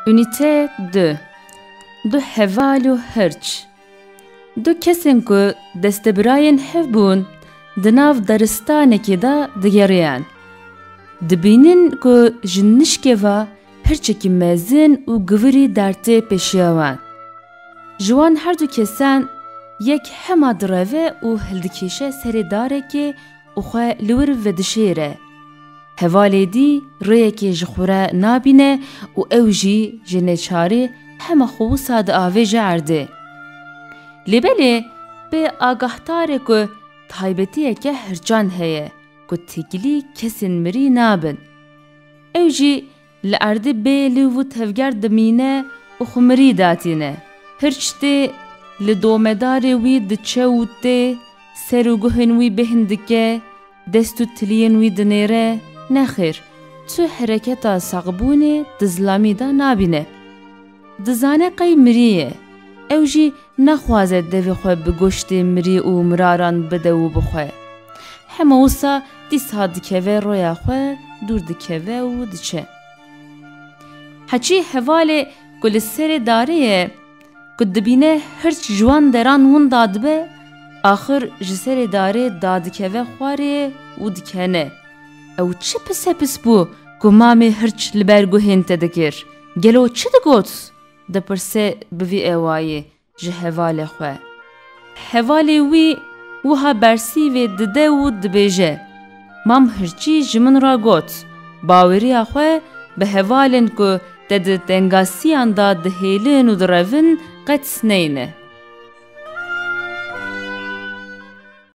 Unîte du Du heval û hirç Du kesên ku destebirayên hev bûn di nav daristanekê de digeriyan. Dibînin ku ji nişkê ve hirçekî mezin û givirî dertê pêşiya wan. Ji wan herdu kesan yek hema direve û hildikêşe serê darekê û xwe li wir vedişêre. Hevalê dî rêyekê ji xwe re nabîne û ew jî ji neçarî hema xwe wisa diavêje erdê. Lê belê bê agahdar e ku taybetiyeke hirçand heye ku têkilî kesên mirî nabin. Ew jî Li erdê bê li û tevger dimîne û xwe mirî datîne. Hirç tê li domedarê wî diçe û tê ser û guhên wî bêhn dike, dest û tiliyên wî dinêre, nexêr, tu hereketa sexbûnê di zilamî de nabîne. Dizane qey mirî ye. Ew jî Naxwaze devê xwe bi goştê mirî û miraran bide û bixwe. Hema wisa dîsa dikeve roya xwe, dûr dikeve û diçe. Heçî hevalê ku li serê darê ye, ku dibîne hirç ji wan deran winda dibe, axir ji serê darê dadikeve xwarê û dikene. Ew çi pisepis bû ku mamê hirç li ber guhên te dikir? Gelo çi digot? Dipirse bi vî ewayê ji hevalê xwe. Hevalê wî wiha bersîvê dide û dibêje, Mam Hirçî ji min re got, Baweriya xwe bi hevalên ku te di tengasiyan de dihêlin û direvin qet neyne.